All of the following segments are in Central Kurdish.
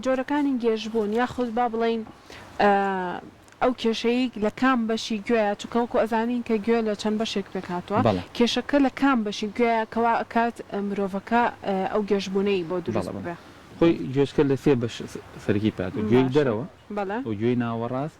جۆرەکانی گێژبوون یاخود با بڵێین ئەو کێشەی لە کام بەشی گوێیە چونکە وەکو ئەزانین کە گوێ لە چەند بەشێک پێک هاتووە بەڵێ کێشەکە لە کام بەشی گوێیە کەوا ئەکات مرۆڤەکە ئەو گێژبوونەی بۆ بەڵێ دروست بەڵێ ببێ. خۆی گوێچکە لە سێ بەش سەرەکی پێک هاتووە گوێی باشە دەرەوە بەڵێ. و گوێی ناوەڕاست.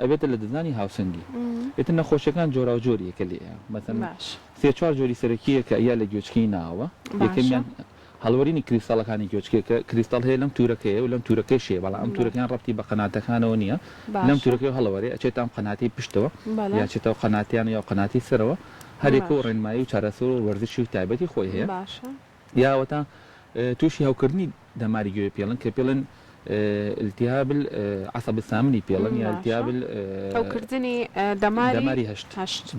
ئەبێتە لە ددانی هاوسەنگی ئیتر نەخۆشیەکان جۆراو جۆر یەکە لێیە مەسەن سێ چوار جۆری سەرەکیە کە ئەیا لە گوێچکەی ناوە یەکەمیان هەڵوەرینی کریستاڵەکانی گوێچکێ کە کریستاڵ هەیە لەم تورەکەیە و لەم تورەکەی شێ بەڵام ئەم تورەکەیان ڕەبتی بە قەناتەکانەوە نییە لەم تورەکەی هەڵەوەێ ئەچێت تام قەناتی پشتەوە یاچێتەوە قەناتیان یا قەناتی سەرەوە هەرێکە و ڕێنمایی و چارەسەر و وەرزشی و تایبەتی خۆی هەیە یاوەتا توشی هەوکردنی دەماری گوێ پێڵن کە پێڵێن التهاب العصب الثامنی پێڵن یا التهاب هەوکردنی دەماری هەشت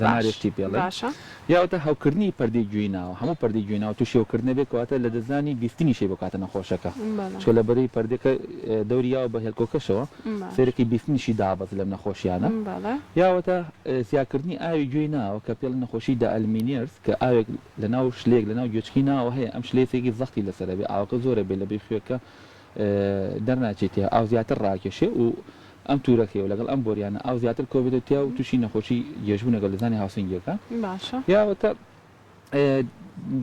دەماری هەشتی پێڵن یاوەتا هەوکردنی پەردەی گوێی ناوە هەموو پەردەی گوێی ناوە توشی هەوکردنە بێت کەواتە لە دەزانی بیستنیشی بۆ کاتە نەخۆشەکە چکە لە بەرەی پەردەکە دەوری یاوە بە هێلکۆکەشەوە سەیرەکی بیستنیشی دابەز لەم نەخۆشیانە یاوەتا زیاکردنی ئاوی گوێی ناوە کە پێڵن نەخۆشی دە ئەلمینێرس کە ئاوێک لە ناو شلێک لە ناو گوێچکی ناوە هەیە ئەم شلەیە سێکی زەختی لەسەر ئەبێ ئاوەکە زۆر ئەبێ لە بری خوێکە دەرناچێ تێیا ئاو زیاتر ڕاکێشێ و ئەم تورەکەی و لەگەڵ ئەم بۆریانە ئاو زیاتر کۆبێتەوە تێیا و توشی نەخۆشی گێژبونە گەلدزانی هاوسنگیەکە باشە. یا وەتا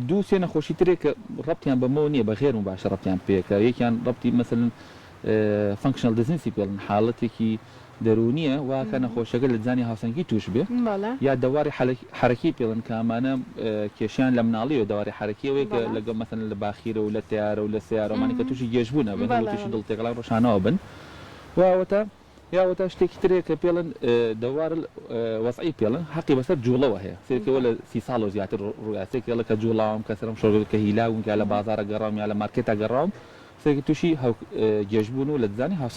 دوو سێ نەخۆشی ترێ کە ڕەبتیان بەمەوە نیە بە غێرمو باشە ڕەبتیان پێکە یەکیان ڕەبتی مەسەلەن فەنکشنەڵ دزنسی پێڵن حاڵەتێکی دەروونییە وا کە نەخۆشەکە لە دزانی هاوسەنگی تووش بێ یا دەواری حەرەکی پێڵێن کە ئەمانە کێشەیان لە مناڵیەوە دەواری حەرەکی ئەوەیە کە لەگەڵ مەسەلەن لە باخیرە و لە تەیارە و لە سەیارە ئەمانە کە تووشی گێژ بوون ئەبن و تووشی دڵ تێکەڵان ڕۆژانەوە بن و ئەوەتا یا ئەوەتا شتێکی ترەیە کە پێڵێن دەوار وەزعی پێڵێن حەقی بەسەر جووڵەوە هەیە سێکە وە لە سی ساڵ و زیاتر ڕوویا سێکە لە کە جووڵاوم کە سەرم شۆڕ بێت کە هیلاوم یا لە بازاڕە گەڕاوم یا لە مارکێتا گەڕاوم سێکە تووشی هەو گێژ بوون و لە دزانی هاوسەنگی